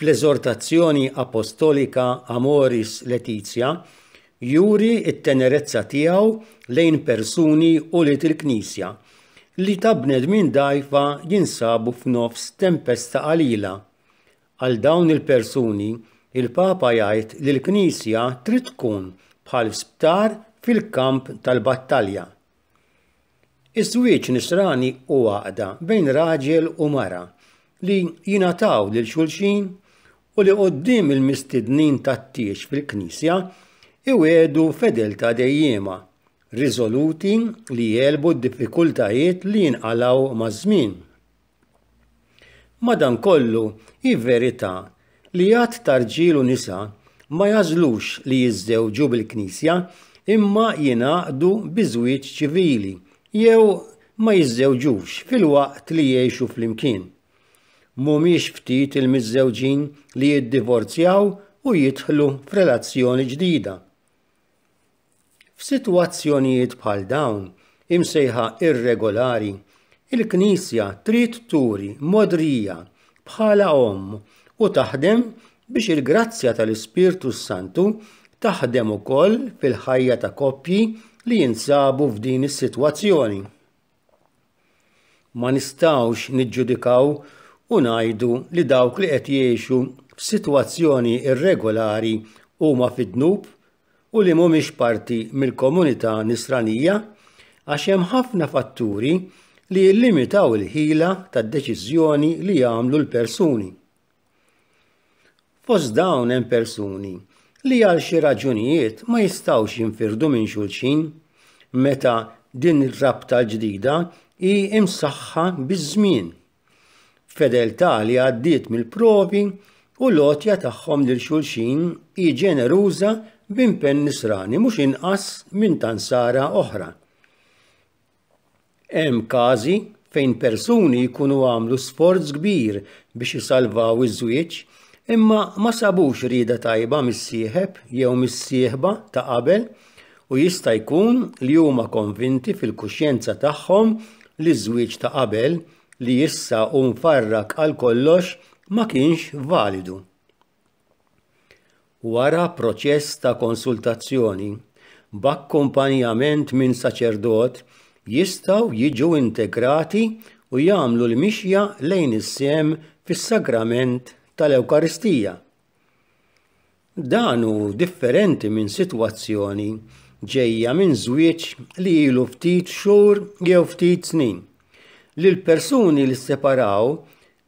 fl-eżortazzjoni apostolika Amoris Laetitia, juri t-tenerezza tiegħu lejn persuni u li il-Knisja li ta' bnedmin dajfa jinsabu f'nofs tempesta qalila. Għal dawn il-persuni, il-Papa jgħid li l-Knisja trid tkun bħal sptar fil-kamp tal-battalja. Iż-żwieġ nisrani hu għaqda bejn raġel u mara li jingħataw lil xulxin u li quddiem il-mistednin tat-tieġ fil-Knisja iwiegħdu fedeltà dejjiema, riżoluti li jegħlbu d-diffikultajiet li jinqalgħu maż-żmien. Madankollu, hi verità li għadd ta' rġiel u nisa ma jagħżlux li jiżżewġu bil-Knisja imma jingħaqdu bi żwieġ ċivili jew ma jiżżewġux filwaqt li jgħixu flimkien. Mhumiex ftit il-miżżewġin li jiddivorzjaw u jidħlu f'relazzjoni ġdida. F'sitwazzjonijiet bħal dawn, imsejħa irregolari, il-Knisja trid turi modrija bħala omm u taħdem biex il-grazzja tal-Ispirtu s-Santu taħdem ukoll fil-ħajja ta' koppji li jinsabu f'din is-sitwazzjoni. Ma nistgħux niġġudikaw u ngħidu li dawk li qed jgħixu f'sitwazzjoni irregolari huma fid-dnub u li mhumiex parti mill-komunità Nisranija għax hemm ħafna fatturi li jillimitaw il-ħila tad-deċiżjoni li jagħmlu l-persuni. Fost dawn hemm persuni li għal xi raġunijiet ma jistgħux jinfirdu minn xulxin meta din ir-rabta l-ġdida hi msaħħa biż-żmien, b'fedeltà li għaddiet mill-provi u l-għotja tagħhom lil xulxin hi ġeneruża b'impenn nisrani mhux inqas minn ta' Nsara oħra. Hemm każi fejn persuni jkunu għamlu sforz kbir biex isalvaw iż-żwieġ, imma ma sabux rieda tajba mis-sieħeb jew mis-sieħba ta' qabel u jista' jkun li huma konvinti fil-kuxjenza tagħhom li ż-żwieġ ta' qabel, li issa hu mfarrak għal kollox, ma kienx validu. Wara proċess ta' konsultazzjoni, b'akkumpanjament minn saċerdot, jistgħu jiġu integrati u jagħmlu l-mixja lejn is-sehem fis-Sagrament tal-Ewkaristija. Dan hu differenti minn sitwazzjoni ġejja minn żwieġ li ilu ftit xhur jew ftit snin, li l-persuni li sseparaw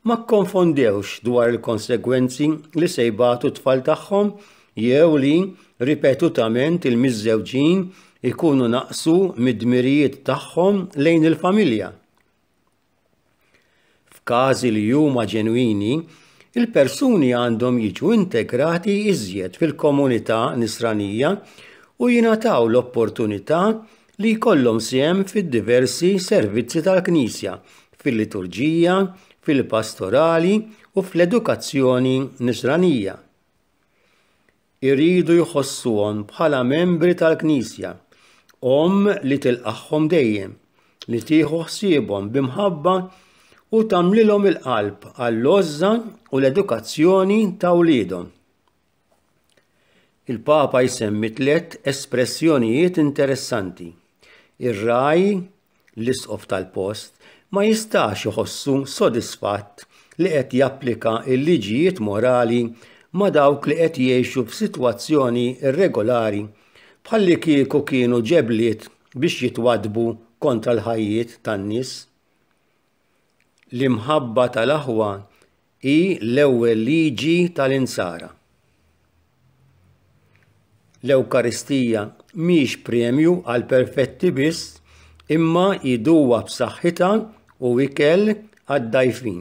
Ma kkonfondewx dwar il-konsegwenzi li se jbatu t-tfal tagħhom jew li ripetutament il-miżżewġin ikunu naqsu mid-dmirijiet tagħhom lejn il-familja. F'każi li huma ġenwini, il-persuni għandhom jiġu integrati iżjed fil-komunità nisranija u jingħataw l-opportunità li jkollhom sehem fid-diversi servizzi tal-Knisja, fil-liturġija, fil-pastorali u fl-edukazzjoni Nisranija. Iridu jħossuhom bħala membri tal-Knisja, omm li tilqagħhom dejjem, li tieħu ħsiebhom b'imħabba u tagħmlilhom il-qalb għall-għożża u l-edukazzjoni ta' wliedhom. Il-Papa jsemmi tliet espressjonijiet interessanti. Ir-ragħaj, l-isqof tal-post, ma jistax iħossu sodisfatt li qed japplika l-liġijiet morali ma' dawk li qed jgħixu f'sitwazzjoni irregolari bħalli kieku kienu ġebliet biex jitwaddbu kontra l-ħajjiet tan-nies. L-imħabba tal-aħwa Hi l-ewwel liġi tal-Insara. L-Ewkaristija mhix premju għal perfetti biss, imma iduwa b'saħħitha u ikel għad-dgħajfin.